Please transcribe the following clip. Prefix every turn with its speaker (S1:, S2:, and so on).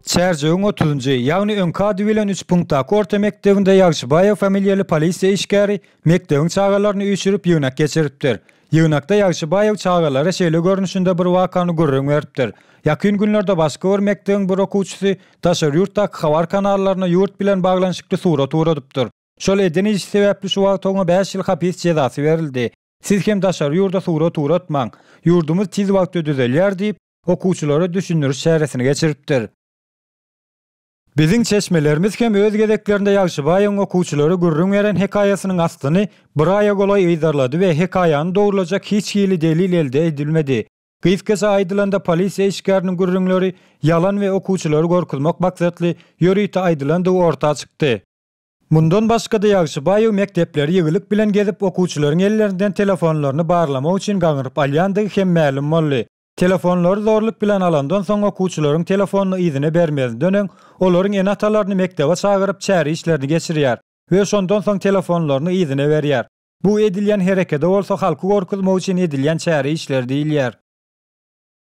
S1: Çärjewiň otuzynjy, ýagny öňki ady bilen üç punktdaky orta mekdebinde Ýagşybaýew familiýaly polisiýa işgäri mekdebiň çagalaryny üýşürip ýygnak geçiripdir. Ýygnakda Ýagşybaýew çagalara şeýle görnüşinde bir wakany gürrüň beripdir, Ýakyn günlerde başga bir mekdebiň bir okuwçysy daşary ýurtdaky habar kanallaryna ýurt bilen baglanyşykly surat ugradypdyr. Şol eden işi sebäpli şu wagt oňa bäş ýyl hapis jezasy berildi. Siz hem daşary ýurda surat ugratmaň, ýurdumyz tiz wagtda düzelýär diýip, okuwçylara düşündiriş çäresini geçiripdir. Biziň çeşmelerimiz hem öz gezeklerinde Ýagşybaýewiň okuwçylara gürrüň beren hekaýasynyň aslyny bir aýa golaý yzarlady we hekaýany dogrulajak hiç hili delil elde edilmedi. Gysgaça aýdylanda polisiýa işgäriniň gürrüňleri ýalan we okuwçylary gorkuzmak maksatly ýörite aýdylandygy orta çykdy. Mundan başga-da Ýagşybaýew mekdepleri ýygylyk bilen gezip, okuwçylaryň ellerinden telefonlaryny barlamak üçin gaňryp alýandygy hem mälim boldy. Telefonlary zorluk bilen alandan soň okuwçylaryň telefonyny yzyna bermezinden öň, olaryň ene-atalaryny mekdebe çagyryp çäre işlerini geçirýär we şondan soň telefonlaryny yzyna berýär. Bu edilýän herekede bolsa halky gorkuzmak üçin edilýän çäre işleri diýilýär.